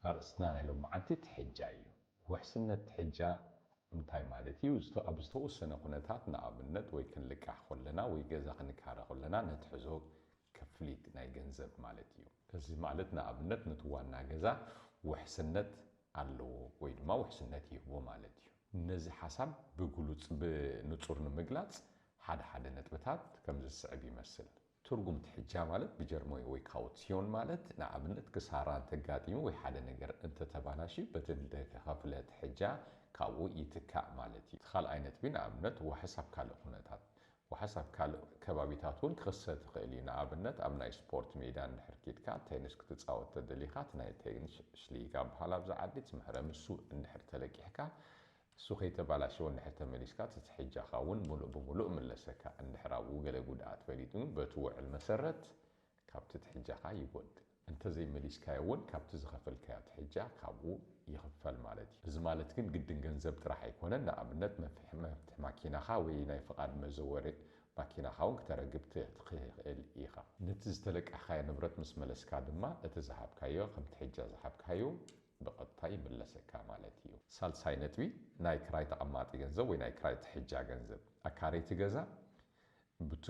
ኣርእስትና ናይ ሎምዓንቲ ትሕጃ እዩ። ውሕስነት ትሕጃ እንታይ ማለት እዩ? ኣብ ዝተወሰነ ኩነታት ንኣብነት ወይ ክንልቃሕ ኮለና ወይ ገዛ ክንካረ ኮለና ነትሕዞ ክፍሊት ናይ ገንዘብ ማለት እዩ። እዚ ማለት ንኣብነት ነቲ ዋና ገዛ ውሕስነት ኣለዎ ወይ ድማ ውሕስነት ይህቦ ማለት እዩ። ነዚ ሓሳብ ብግሉጽ፣ ብንጹር፣ ንምግላጽ ሓደ ሓደ ነጥብታት ከምዚ ዝስዕብ ይመስል። ትርጉም ትሕጃ ማለት ብጀርሞይ ወይ ካውትሲዮን ማለት ንኣብነት ክሳራ እንተጋጢሙ ወይ ሓደ ነገር እንተተባላሽዩ በቲ እተኸፍለ ትሕጃ ካብኡ ይትካእ ማለት እዩ። እቲ ካልኣይ ነጥቢ ንኣብነት ዋሕስ ኣብ ካልእ ኩነታት ዋሕስ ኣብ ካልእ ከባቢታት እውን ክኽሰት ይኽእል እዩ። ንኣብነት ኣብ ናይ ስፖርት ሜዳ እንድሕር ኬድካ ቴንስ ክትጻወት ተደሊኻ እቲ ናይ ቴንስ ሽሊጋ ብሃል ኣብዚ ዓዲ እቲ መህረሚ እሱ እንድሕር ተለቂሕካ እሱ ከይተባላሸወ እንድሕር ተመሊስካ እቲ ትሕጃኻ እውን ምሉእ ብምሉእ እምለሰካ እንድሕር ኣብኡ ገለ ጉድኣት ፈሊጡ በቲ ውዕል መሰረት ካብቲ ትሕጃኻ ይጎድል። እንተዘይ መሊስካዮ እውን ካብቲ ዝኸፈልካዮ ትሕጃ ካብኡ ይኽፈል ማለት እዩ። እዚ ማለት ግን ግድን ገንዘብ ጥራሕ ኣይኮነን፣ ንኣብነት መፍሒ መፍትሒ ማኪናኻ ወይ ናይ ፍቓድ መዘወሪ ማኪናኻ እውን ክተረግብ ትኽእል ኢኻ። ነቲ ዝተለቃሕኻዮ ንብረት ምስ መለስካ ድማ እቲ ዝሃብካዮ ከም ትሕጃ ዝሃብካዮ ብቐጥታ ይምለሰካ ማለት እዩ። ሳልሳይ ነጥቢ፣ ናይ ክራይ ተቐማጢ ገንዘብ ወይ ናይ ክራይ ትሕጃ ገንዘብ። ኣካረይቲ ገዛ ቡቲ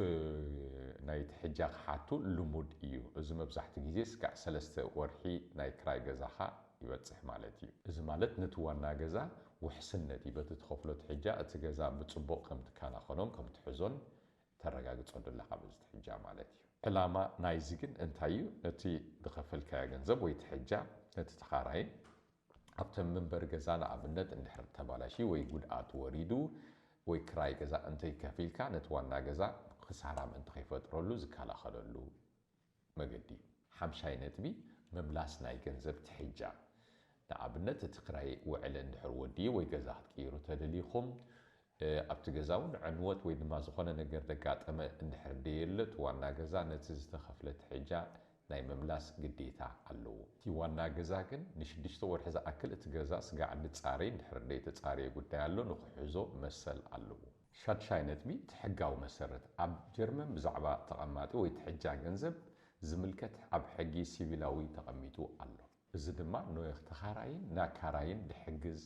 ናይ ትሕጃ ክሓቱ ልሙድ እዩ እዚ መብዛሕቱ ግዜ ስጋዕ ሰለስተ ወርሒ ናይ ክራይ ገዛኻ ይበጽሕ ማለት እዩ። እዚ ማለት ነቲ ዋና ገዛ ውሕስነት እዩ በቲ ትኸፍሎ ትሕጃ እቲ ገዛ ብጽቡቕ ከም ትካናኸኖን ከም ትሕዞን ተረጋግጸሉ ኣለኻ በዚ ትሕጃ ማለት እዩ። ዕላማ ናይዚ ግን እንታይ እዩ ነቲ ዝኸፈልካዮ ገንዘብ ወይ ትሕጃ ነቲ ተኻራይን ኣብተን መንበሪ ገዛ ንኣብነት እንድሕር ተባላሽዩ ወይ ጉድኣት ወሪዱ ወይ ክራይ ገዛ እንተይከፊልካ ነቲ ዋና ገዛ ክሳራ ምእንቲ ከይፈጥረሉ ዝከላኸለሉ መገዲ እዩ። ሓምሻይ ነጥቢ፣ ምምላስ ናይ ገንዘብ ትሕጃ። ንኣብነት እቲ ክራይ ውዕሊ እንድሕር ወዲኡ ወይ ገዛ ክትቅይሩ ተደሊኹም ኣብቲ ገዛ እውን ዕንወት ወይ ድማ ዝኾነ ነገር ዘጋጠመ እንድሕር ደየለ እቲ ዋና ገዛ ነቲ ዝተኸፍለ ትሕጃ ናይ ምምላስ ግዴታ ኣለዎ። እቲ ዋና ገዛ ግን ንሽዱሽተ ወርሒ ዝኣክል እቲ ገዛ ስጋዕ እንድጻረይ እንድሕር ደይተጻረየ ጉዳይ ኣሎ ንክሕዞ መሰል ኣለዎ። ሻድሻይ ነጥቢ እቲ ሕጋዊ መሰረት ኣብ ጀርመን ብዛዕባ ተቐማጢ ወይ ትሕጃ ገንዘብ ዝምልከት ኣብ ሕጊ ሲቪላዊ ተቐሚጡ ኣሎ። እዚ ድማ ኖየኽ ተኻራይን ናካራይን ድሕግዝ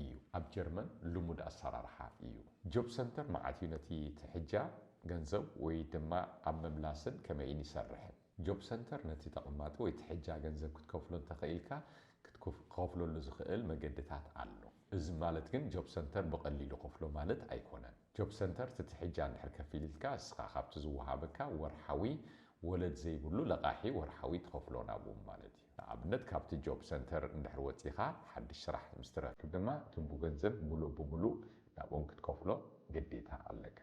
እዩ። ኣብ ጀርመን ልሙድ ኣሰራርሓ እዩ። ጆብ ሰንተር መዓት እዩ ነቲ ትሕጃ ገንዘብ ወይ ድማ ኣብ ምምላስን ከመይን ይሰርሕን። ጆብ ሰንተር ነቲ ተቐማጢ ወይ ትሕጃ ገንዘብ ክትከፍሎ እንተኸኢልካ ክትክኸፍለሉ ዝኸእል መገድታት ኣሎ። እዚ ማለት ግን ጆብ ሰንተር ብቐሊሉ ከፍሎ ማለት ኣይኮነን። ጆብ ሰንተር ትትሕጃ እንድሕር ከፊል ኢልካ እስኻ ካብቲ ዝወሃበካ ወርሓዊ ወለድ ዘይብሉ ለቓሒ ወርሓዊ ትኸፍሎ ናብም ማለት እዩ። ንኣብነት ካብቲ ጆብ ሰንተር እንድሕር ወጺኻ ሓድሽ ስራሕ ምስ ትረክብ ድማ እትቡ ገንዘብ ምሉእ ብምሉእ ናብም ክትከፍሎ ግዴታ ኣለካ።